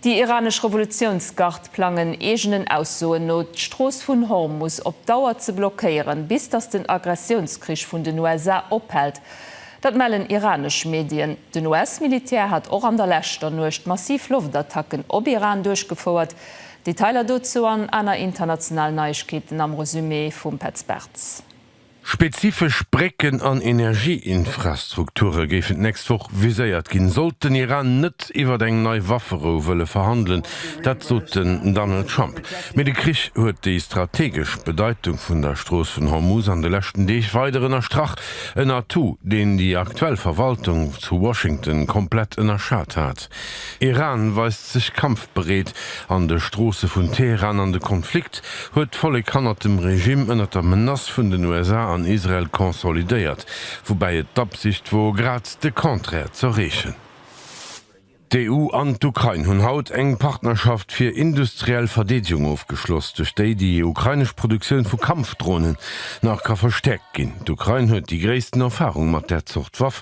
Déi iranesch Revolutiounsgard plangen eegenen Aussoen no, d'Strooss vun Hormus op Dauer ze blockéieren, bis datt den Aggressiounskrich vun den USA ophält. Dat mellen iranesch Medien. Den US-Militär hat och an der leschter Nuecht massiv Loftattacken op Iran duerchgefouert. Detailer dozou an aner internationalen Neiegkeeten am Resumé vum Petz Bartz. Spezifesch Brécken an Energieinfrastrukture géifen d'nächst Woch viséiert ginn, sollt den Iran net iwwer eng nei Wafferou wëlle verhandelen. Dat sot den Donald Trump. Mee de Krich huet déi strategesch Bedeitung vun der Strooss vun Hormuz an de leschten Deeg weider ënnerstrach, en Atout, deen déi aktuell Verwaltung zu Washington komplett ënnerschat hat. Iran weist sech kampfbereet, An de Stroosse vun Teheran an de Konflikt huet d'Vollek hannert dem Regime ënnert der Menace vun den USA an Israel consolidéiert, woubäi et d'Absicht wor grad de Contraire z'erreechen. D'EU an d'Ukrain hunn haut eng Partnerschaft fir industriell Verdeedegung ofgeschloss, duerch déi déi ukrainesch Produktioun vu Kampfdronen nach ka verstäerkt ginn. D'Ukrain huet déi gréissten Erfarung mat där Zort Waff.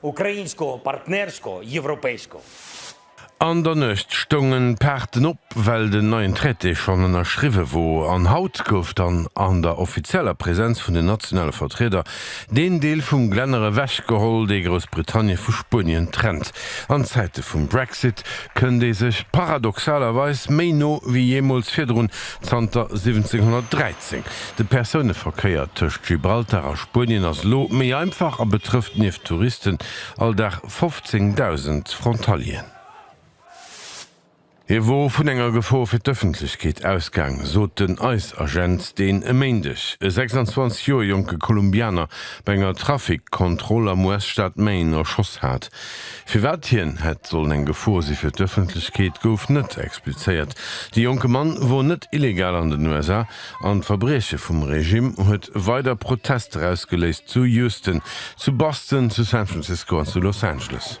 Ukrainsko, partnersko, evropeisko. An der Nuecht stoungen d'Paarten op, well den neien Traité schonn ënnerschriwwe wor. An haut gouf dann an der offizieller Präsenz vun den nationale Vertrieder deen Deel vum Glänner ewechgeholl, dee Groussbritannien vu Spuenien trennt. An Zäite vum Brexit kënnt ee sech paradoxalerweis méi no wéi jeemools virdrun, zanter 1713. De Persouneverkéier tëscht Gibraltar a Spuenien ass elo méi einfach a betrëfft nieft Touristen all Dag 15.000 Frontalieren. Hie wor vun enger Gefor fir d'Ëffentlechkeet ausgaang, sot den ICE-Agent, deen e Méindeg e 26 Joer jonke Kolumbianer bei enger Trafikkontroll am US-Staat Maine erschoss hat. Firwat hien hätt sollen eng Gefor si fir d'Ëffentlechkeet, gouf net explizéiert. De jonke Mann wor net illegal an den USA an d'Verbrieche vum Regimm huet weider Protester ausgeléist, zu Houston, zu Boston, zu San Francisco an zu Los Angeles.